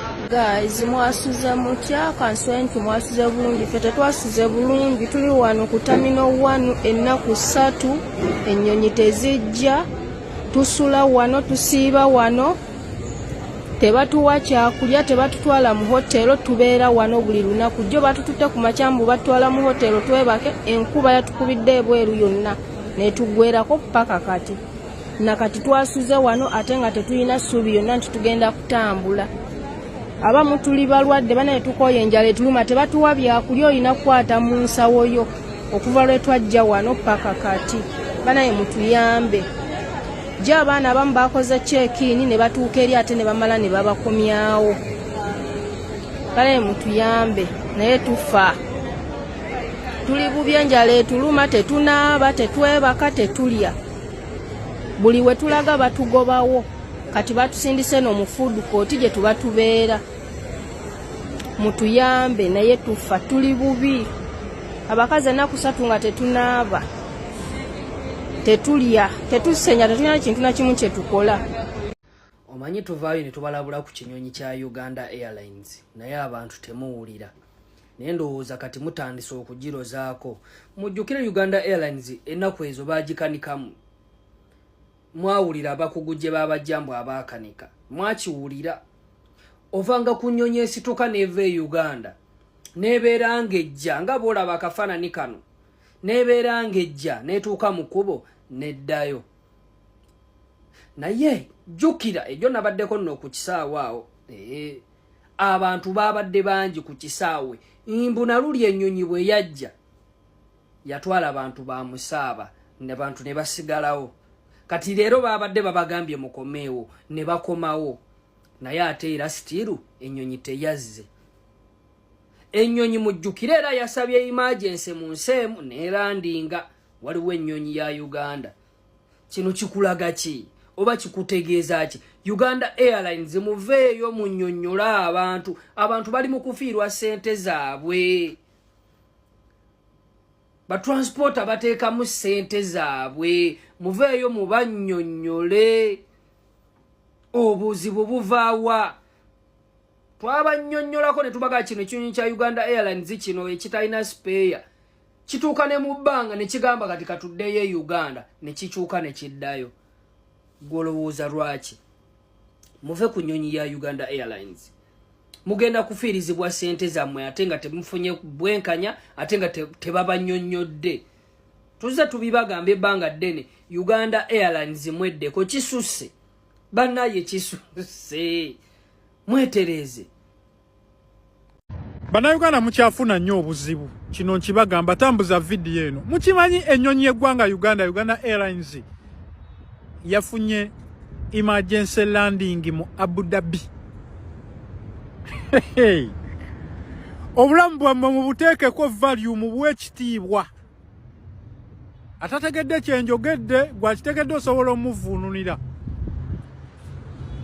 Guys, mwasuze mutya kanswe nti mwasuze bulungi ffe tetwasuze bulungi tuli wano ku tamino wanu ennaku ssatu ennyonyi tezijja tusula wano tusiiba wano tebatuwa kyakulya tebatutwala mu hotelo tubeera wano buli lunaku jjo batututte ku makyambu batutwala mu hotelo twebake enkuba yatukubidde ebweru yonna netugwerako paka kati nakati twasuze wano ate nga tetulina ssuubi yonna nti tugenda kutambula abamu tuli balwadde banaye tukooye enjala etuluma tebatuwa byakulya olina kukwata mu nsawo yo okuva lwe twajja wano paka kati banaye mutuyambe gye abaana abamu bakoze kyekiini ne batuuka eri ate ne bamala ne babakomyawo banaye mutuyambe naye tufa tuli bubi enjala etuluma tetunaaba tetwebaka tetulya buli we tulaga batugobawo kati batusindise no mu food court gye tuba tubeera mutuyambe naye tufa tuli bubi abakazi enaku satu nga tetunaaba tetulya tetusenya tetulina kintu nakimu kyetukola omanyi tuvaayo ne tubalabula ku kinyonyi kya uganda airlines naye abantu temuwulira naye ndowooza kati mutandise okugirozaako mujjukire uganda airlines ennaku ezo bagikanikamu mwawulira abakugu gye babajjambu abaakanika mwakiwulira ovanga ku nnyonyi esituka neeva e uganda nebeera ng'ejja nga boolaba akafaanani kano nebeera ng'ejja netuuka mu kkubo neddayo naye jjukira ejo nabaddeko nno ku kisaawo awo ee abantu baabadde bangi ku kisaawe mbu naluli ennyonyi bwe yajja yatwala abantu ba musaaba nabantu ne basigalawo kati leero baabadde babagambye mukomeewo ne bakomawo naye ate era sitiiru ennyonyi teyazze ennyonyi mujjukire era yasabye imagense mu nsi emu neerandinga waliwo ennyonyi ya uganda kino kikulaga ki oba kikutegeeza ki uganda airlines muveeyo munyonnyole abantu abantu bali mu kufiirwa ssente zaabwe batransporta bateekamu ssente zaabwe muveeyo mubannyonnyole obuzibu buvaawa twabannyonnyolako ne tubaga kino ekinyonyi kya uganda airlines kino ekitalina speya kituuka ne mu bbanga ne kigamba kati katuddeyo e uganda ne kikyuka ne kiddayo gwolowooza lwaki muve ku nyonyi ya uganda airlines mugenda kufiirizibwa sente zammwe ate nga temufunye bwenkanya ate nga tebabanyonyodde te tuzze tubibagamba ebbanga ddene uganda airlines mweddeko kisusse banaye kisusse mwetereeze Bannayuganda mukyafuna nnyo obuzibu kino nkibagamba tambuza vidiyo eno mukimanyi ennyonyi y'eggwanga Uganda Uganda Airlines yafunye emergency landing mu Abu Dhabi obulamu bwammwe mubuteekeko value mubuwe ekitiibwa atategedde kyenjogedde gwakitegedde osobola omuvuunulira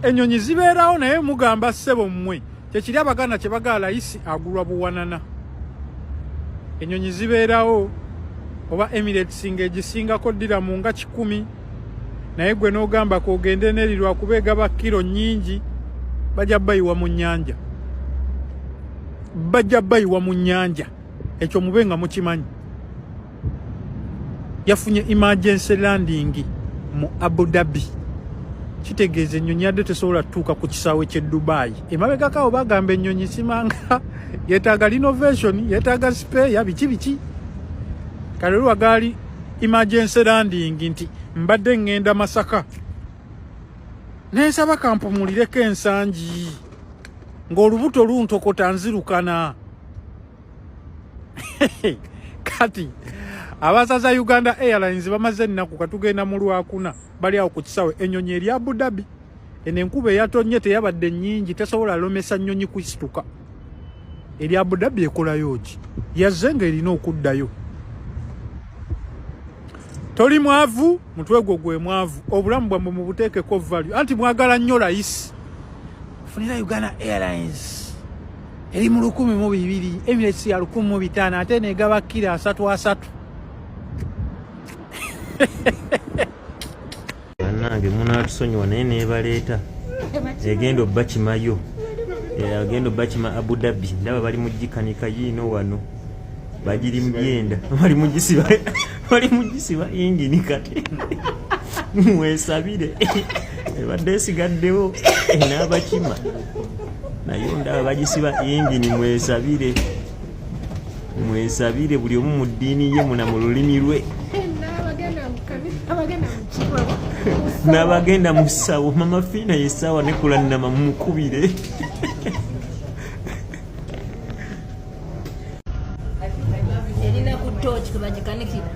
enyonyi zibeerawo naye mugamba ssebo mmwe kyekiri abaganda kyebagala layisi agulwa buwanana enyonyi zibeerawo oba emirates nga egisingako ddira mu nga kikumi naye gwe n'ogamba kogende neri lwakuba egaba kiro nyingi bajja bayiwa mu nyanja bajja bayiwa mu nyanja ekyo mube nga mukimanyi yafunye emergency landing mu abu dhabi kitegeeza ennyonyi yadde tesobola tutuuka ku kisaawe ky'e dubayi emabegakaawo bagamba ennyonyi simanga yetaaga renovation yetaaga speya biki biki kale lwa gaali emergency landing nti mbadde ŋŋenda masaka nensaba kampumulireko ensangi ng'olubuto luntokota nzirukana kati abasaza uganda airlines bamaze ennaku katugenda mu lwakuna bali awo ku kisawe ennyonyi eri abu dhabi eno enkuba eyatonnye teyabadde nnyingi tesobola lomesa nnyonyi kusituka eri abu dhabi ekolayo ki yazze nga erina okuddayo toli mwavu mutwe gwo gwe mwavu obulamu bwamwe mubuteekeko value anti mwagala nnyo layisi funira uganda airlines eri mu lukumi mu bibiri emirates ya lukumi mu bitaano ate negaba kira asatu asatu banange munatusonyiwa naye nebaleeta egenda obakimayo agenda obakima abu dhabi ndaba bali mugikanika yiino wano bagiri mubyenda bali mugisiba bali mugisiba yingini kati mwesabire ebadde esigaddewo n'abakima nayo ndaba bagisiba yingini mwesabire mwesabire buli omu mu ddiini ye muna mu lulimi lwe n'abagenda mu ssawo mama fiina yesaawa nekulannama mumukubire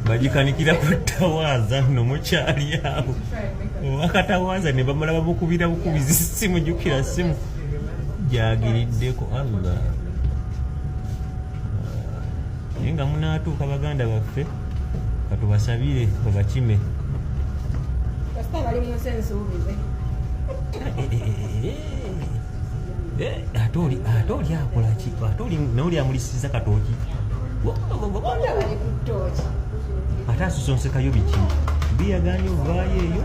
bagikanikira ku tawaaza nno mukyali awo wakatawaaza ne bamala bamukubira bukubizi simu jukira simu gyagiriddeko allah naye nga munaatuuka baganda baffe katubasabire babakime kasita bali mu nsi ensuubize Eh, ate oli ate oli akola ki ate oli naye oli amulisiza katooki ate asosonsekayo biki biyaganye ovaayo eyo